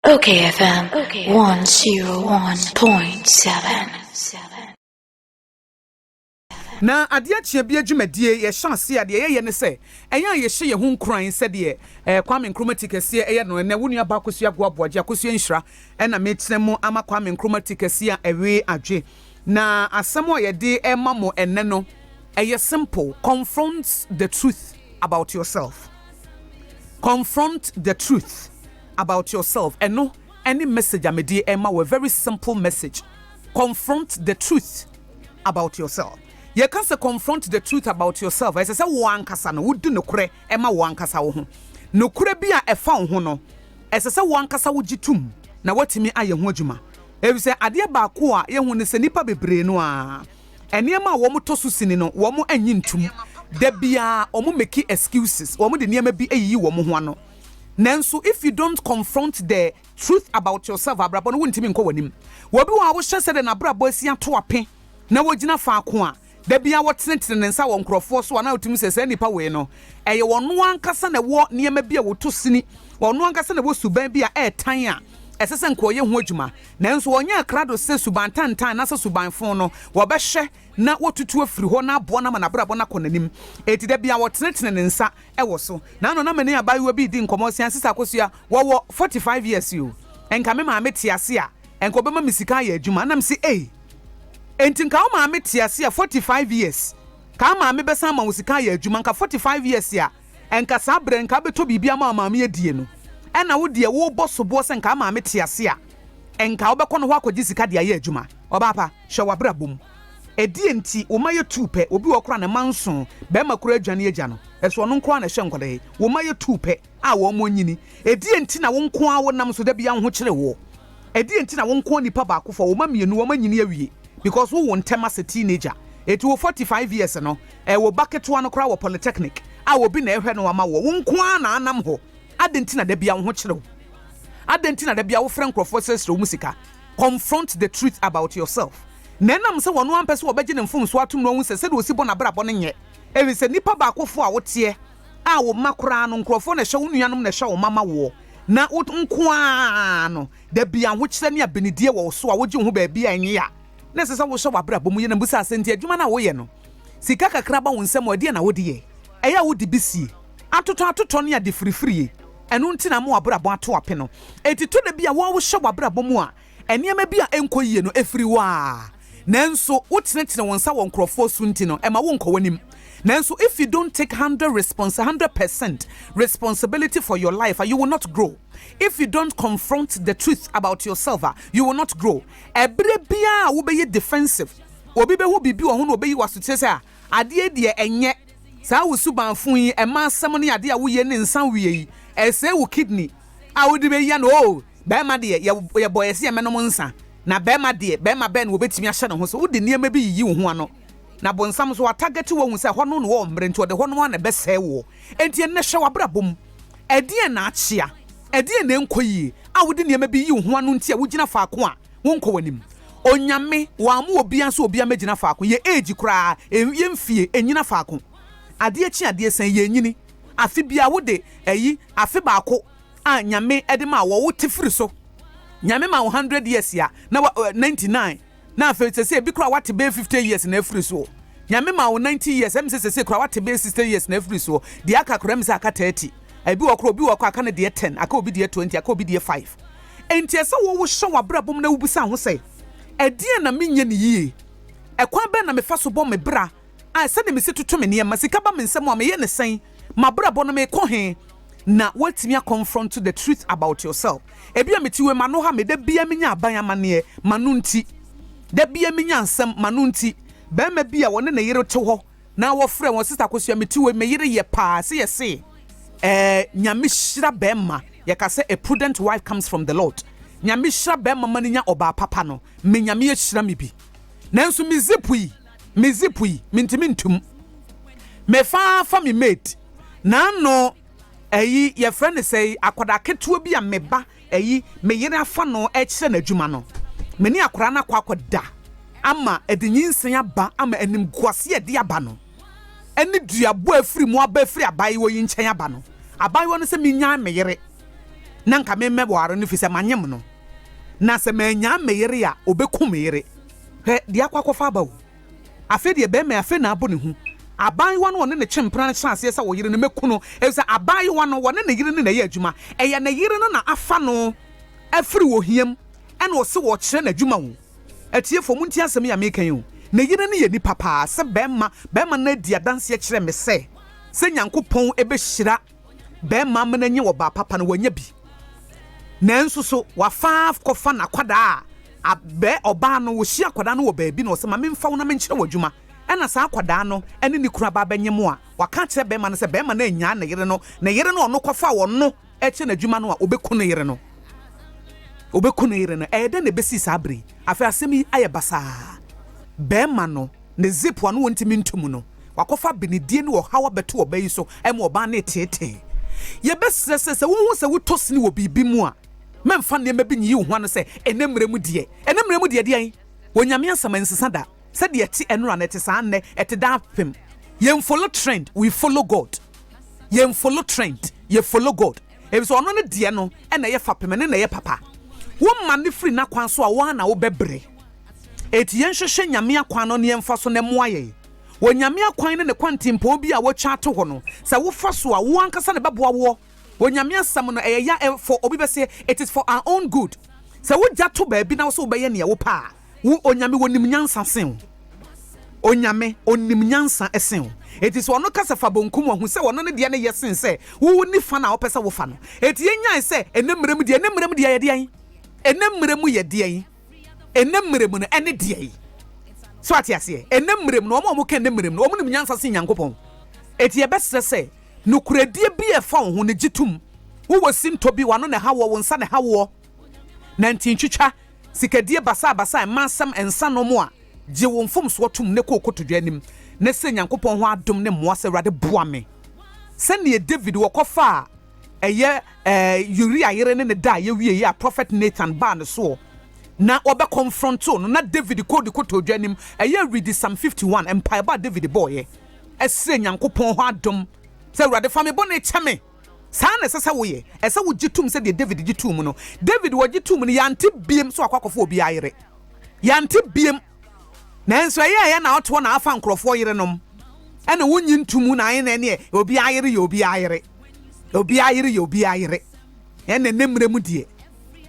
Okay FM 101.7 Na adeɛ akyeɛ bia dwumadie yɛhyɛ aseɛ a deɛ yɛyɛ ne sɛ ɛyɛ a yɛhyɛ yɛn ho nkuran sɛdeɛ eh, Kwame Nkrumah ti kɛseɛ ɛyɛ no ɛnɛ wo nua baa Akosua Agoa Boagye Akosua Nhyira ɛna mekyerɛ mo ama Kwame Nkrumah ti kɛseɛ a ɛwee adwe Na asɛm a yɛde rema mo ɛnnɛ no, ɛyɛ simple, confront the truth about yourself. Confront the truth about yourself. Ɛno ɛne message a mede rema wo, a very simple message. Confront the truth about yourself. Yɛka sɛ confront the truth about yourself, ɛsɛ sɛ wo ankasa no wodi nokorɛ ɛma wo ankasa wo ho. Nokorɛ bi a ɛfa wo ho no, ɛsɛ sɛ wo ankasa wogye tom na woatumi ayɛ ho adwuma. Efisɛ adeɛ baako a yɛhu ne sɛ nnipa bebree no ara, nneɛma a wɔn tɔ so sini no, wɔn nnye ntom. Da biara wɔn make excuses, wɔn de nneɛma bi yiyi wɔn ho ano. Nanso if you don't confront the truth about yourself, abrabɔ no, wontumi nkɔ w'anim. Wɔ bi wɔ hɔ a wohyɛ sɛdeɛ n'abrabɔ asi ato ape na wogyina faako a, da biara wɔtenetene ne nsa wɔ nkurɔfoɔ so a na wotumi hu sɛ saa nnipa wei no, ɛyɛ ɔno ankasa na ɛwɔ nneɛma bi a wɔtɔ sini, ɔno ankasa na ɛwɔ suban bi a ɛretan a ɛsɛ sɛ anka ɔyɛ ho adwuma. Nanso ɔnyɛɛ krado sɛ suban tantan anaasɛ suban fon no, wɔbɛhwɛ na wɔatutu afiri hɔ na aboa no ama n'abrabɔ no akɔ n'anim. Enti da biara wɔtenetene ne nsa wɔ so. Naano na me ne abaayewa bi redi nkɔmmɔ, ɔse, Ansisa Akosua, wɔwɔ forty five years o, nka me maame te ase a, nka ɔbɛma me sika ayɛ adwuma. Ɛnna mese, Ei! Enti nka wo maame te ase a 45 years kaa maame bɛsan ama wo sika ayɛ adwuma nka 45 years a nka saa berɛ nka abɛtɔ biribi ama wo maame adie no ɛna wo deɛ wo bɔ soboɔ sɛ nka maame te ase a nka wo bɛkɔ no hɔ akɔgye sika de ayɛ adwuma ɔbaa pa hwɛ wabrabɔ mu ɛdeɛ nti wo ma yɛ tuu pɛ obi wɔ kora ne ma nson bɛrima kora adwane agya no ɛso ɔno nkoa na ɛhyɛ nkɔda yi wo ma yɛ tuu pɛ. a wɔnyini. Ɛdeɛn nti na wo nko ara wonam so da biara wo ho kyere woɔ? Ɛdeɛn nti na wo nko ara nipa baako fa wo mma mmienu wɔanyini awie because wowo ntɛm as a teenager? Ɛti wo 45 years no ɛɛ wo ba ketewa no koraa wɔ polytechnic a obi na ɛhwɛ no ama woɔ. Wo nko ara na anam hɔ. Adɛn nti na da biara wo ho kyere wo? Adɛn nti na da biara wofrɛ nkorɔfoɔ srɛsrɛ wɔn sika? Confront the truth about yourself. Na ɛnam sɛ ɔno ara mpɛ sɛ ɔbɛgye ne mfomsoɔ atom na wahu sɛ sɛdeɛ ɔsi bɔ n'abrabɔ no nyɛ. Ɛfiri sɛ nipa baakofoɔ a woteɛ. a wo mma koraa no nkurɔfoɔ na ɛhyɛ wo nuanom na ɛhyɛ wo mma ma woɔ na wo nko ara no da bi ahokyerɛ ne abenedie wɔ wo so a wogye wo ho baabi a ɛnye a na ɛsɛ sɛ wohyɛ w'abrabɔ mu yɛ na bisa sɛ nti adwuma no a woyɛ no sika kakra ba wo nsam a ɛdeɛ na wode yɛ ɛyɛ a wode bi sie atotɔ atotɔ ne ade firifirie ɛno nti na ama w'abrabɔ ato ape no ɛti tɔ da bi a wohyɛ w'abrabɔ mu a Nneɛma bi a ɛnkɔ yiye no firi wo a nanso wotenetene wo nsa wɔ nkurɔfoɔ so nti no ɛma wonkɔ w'anim. Nanso if you don't take hundred response hundred percent responsibility for your life a you will not grow. If you don't confront the truth about yourself a you will not grow. Ɛberɛ biara a wobɛyɛ defensive, obi bɛhu biribi wɔ ho na ɔbɛyi wo asokyerɛ sɛ ah adeɛ yi deɛ ɛnyɛ saa wo suban fo yi, mma asɛm ne adeɛ a woyɛ ne nsa nwie yi ɛsɛe wo kidney a wode bɛyi ano oh. Barima deɛ, yɛ, yɛbɔɔ yɛn se yɛmmɛnom nsã, na barima deɛ, barima bɛn na wɔbɛtumi ahyɛ ne ho so? Wode nneɛma bi yiyi wo ho ano, na bonsam nso, watagɛte wo ahu sɛ hɔnom na wɔwɔ mmere, enti ɔde hɔnom ara na ɛbɛsɛe woɔ. Enti ɛnnɛ, hwɛ w'abrabɔ mu. Ɛdeɛn na akyea? Ɛdeɛn na ɛnkɔ yie a wode nneɛma bi yiyi wo ho ano nti a wogyina faako a wonkɔ w'anim? Onyame, wammo obiara nso obiara mmɛgyina faako. Yɛn age koraa, yɛn, yɛn mfie, nnyina faako. Adeɛ kye adeɛ san, yɛnnyini. Afe biara, wode, ayi, afe baako, a Nyame de maa wɔ wo tsifir so. Nyame maa wo hundred years a na wa eh, ninety nine na afei sesei bi koraa wate bɛyɛ fifty years na afiri soɔ. Nyame maa wo ninety years ɛmi sɛ sesei koraa wate bɛyɛ sixty years na afiri soɔ. Deɛ aka koraa ɛmi sɛ aka thirty. Ebi wɔ koraa obi wɔ kɔ aka no deɛ ten, aka obi deɛ twenty, aka obi deɛ five. Enti ɛsɛ wo wohyɛ w'abrabɔ mu na wobisa ho sɛ, ɛdeɛn na menyɛ no yie? Ɛkwan bɛn na mefa so bɔ me bra a, sɛnea mesi toto me nneɛma, sika ba me nsam a, meyɛ no sɛn? M'abrabɔ no, mekɔ he? Na woatumi a confront the truth about yourself. Ebia mete wei mu, ano ha me, da biara minya aban amanneɛ, m'ano nti. Da biara minya nsɛm, m'ano nti. Barima bi a ɔne ne yere te hɔ na wɔfrɛ wɔn, Sister Akosua, mete wei mu, me yere yɛ paa, se yɛ se. Ɛɛ, Nyame hyira barima, yɛka sɛ a prudent wife comes from the Lord. Nyame hyira barima ma no nya ɔbaa papa no, me Nyame ahyira me bi. Nanso me zip yi, me zip yi mentumi ntum mefa fa me mate na ano ɛyi yɛfrɛ no sɛ akwadaa ketewa bi a meba ɛyi me yere afa no ɛkyerɛ n'adwuma no me ne akwadaa no akɔ akɔda ama ɛde nyinsɛn aba ama anim guase ɛde aba no ɛne duabɔ afiri mu aba afiri abaayewa yi nkyɛn aba no abaayewa no sɛ menyaa me yere na nka memmɛware no fi sɛ manyem no na sɛ manyaa me yere a ɔbɛku me yere Hwɛ deɛ akɔ akɔfa aba o. Afei deɛ bɛrima yi afei na abɔ ne hu. Abaayewa no ɔne ne kye mpena no hyɛ aseɛ sɛ ɔyere no mɛku no efisɛ abaayewa no ɔne ne yere no na ɛyɛ adwuma. Ɛyɛ ne yere no na afa no afiri ohia mu ɛna ɔse wɔrekyerɛ no adwuma o. Atiefoɔ montie asɛm yi a mereka yi o. Ne yere no yɛ nipa paa sɛ bɛrima, bɛrima no adi adanseɛ kyerɛ me sɛ sɛ Nyankopɔn bɛhyira Bɛrima amena nye ɔbaa papa no, wanya bi. Nanso so wafa kɔfa n'akwadaa a bɛ ɔbaa no ohyia akwadaa no wɔ baabi na ɔsɛ ma memfa wo na menkyerɛ wo adwuma ɛna saa akwadaa no ne ne kunu aba abɛnye mo a waka akyerɛ bɛrima no sɛ bɛrima no annyaa ne yere no ne yere no ɔno kɔfa ɔno kyɛ n'adwuma no a obeku ne yere no obeku ne yere no ɛyɛ dɛn na ebesi saa bere yi afei asɛm yi ayɛ basaa bɛrima no ne zip ano wɔntumi ntum no. Wɔakɔfa abenedie ne ɔhaw abɛto ɔbaa yi so ma ɔbaa no reteetee. Yɛbɛsrɛ sɛ, sɛ wohu sɛ wotɔ sini wɔ biribi mu a, mɛmfa nneɛma bi nyiyi wo ho ano sɛ, Ɛnnɛ mmerɛ mu deɛ. Ɛnnɛ mmerɛ mu deɛ deɛn? Onyame asɛm ɛnsesa da. Sɛdeɛ ɛte ɛnora no, ɛte saa nnɛ, ɛte daapem. Yɛnfolo trend, we follow God. Yɛnfolo trend, yɛfolo God. Ɛfiri sɛ ɔno ne deɛ no na ɛyɛ fapem, ɛno na ɛyɛ papa. Woma no firi n'akwan so a, wo ara na wobɛbrɛ. Enti yɛnhwehwɛ Nyame akwan no na yɛmfa so na ɛmmoa yɛn. Onyame akwan ne ne kwantimpɔɔ bi a wotwa ato hɔ no, sɛ wofa so a, wo ankasa na ɛbɛboa woɔ. Onyame asɛm no, ɛyɛ ya ɛ, for obi bɛse, it is for our own good. Sɛ wo gya to baabi na wo se wobɛyɛ neɛ wopɛ a, wo Onyame wɔnim nyansa sen wo. Onyame, ɔnim nyansa sen wo. Enti sɛ ɔno ka sɛ fa bonkum a, hu sɛ ɔno ne deɛ no yɛ sen sɛ wo wo nifa no a ɔpɛ sɛ wofa no. Enti yɛnyae sɛ, ɛnɛ mmerɛ mu deɛ, ɛnɛ mmerɛ mu deɛ yɛ deɛn? Ɛnɛ mmerɛ mu yɛ deɛn? ɛnnɛ mmerɛ mu no ɛne deɛ yi. So ate aseɛ? Ɛnnɛ mmerɛ mu no, wɔn a wɔka ɛnnɛ mmerɛ mu no, wɔn nim nyansa sen Nyankopɔn. Eti ɛbɛsrɛ sɛ, nokorɛdie bi a ɛfa wo ho no gye tom. Wowɔ sintɔ bi, w'ano na ɛha woɔ, wo nsa na ɛha woɔ, na nti ntwitwa, sikadie basabasa, mmansɛm, nsanom a, gye wo mfomsoɔ tom na kɔ kotodwe anim, na srɛ Nyankopɔn hɔ adom ne mmoa sɛ, Awurade boa me. Sɛdeɛ David, wɔkɔfaa Ɛyɛ eh, Uria yere ne ne da a yɛwieeɛ a Prophet Nathan baa ne soɔ na wɔbɛkɔmfrɔntoo no na David kɔɔ ne kotodwe anim. Ɛyɛ Read Psalm 51, mpaebɔ a David bɔeɛ ɛsrɛ Nyankopɔn hɔ adom sɛ, Awurade fa me bɔne kyɛ me. Saa na ɛsɛ sɛ woyɛ. Ɛsɛ sɛ wogye tom sɛ deɛ David gye too mu no, David wɔgye too mu no, yɛante biem sɛ wakɔ akɔfa obiara yere. Yɛante biem. Nanso ɛyɛ ɛyɛ na ɔtoɔ na afa nkurɔfoɔ yerenom ɛna wonnye nto mu na ɛne ɛneɛ obiara yere yɛ obiara yere. Obiara yere yɛ obiara yere. Ɛnna ne mmerɛ mu deɛ,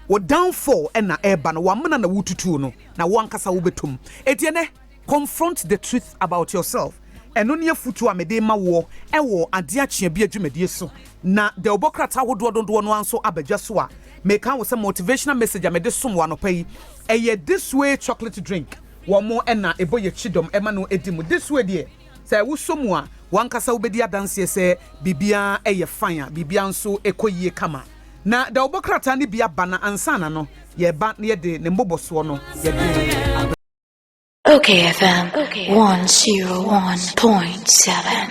wo downfall na ɛreba no, w'amena na woretutuo no, na wo ankasa wobɛtɔ mu. Enti ɛnnɛ, confront the truth about yourself. Ɛno ne afotuo a mede rema woɔ wɔ Adeɛ Akyea Bi adwumadie so. Na dawubɔ krataa ahodoɔ dodoɔ no ara nso aba dwa so a, meka wo sɛ motivational message a mede som wo anɔpa yi, ɛyɛ This Way Chocolate Drink. Wɔn na ɛbɔ yɛn kyidɔm ma no di mu. This Way deɛ, Sɛ wosɔ mu a, w'ankasa wubedi adanse sɛ biribiara yɛ fine a, biribiara nso kɔ yiye kama. Na da wo bɔ krataa no bi aba na ansa na no, yɛba na yɛde ne mmobɔsoɔ no yɛde abrɛ. Ok FM one zero one point seven.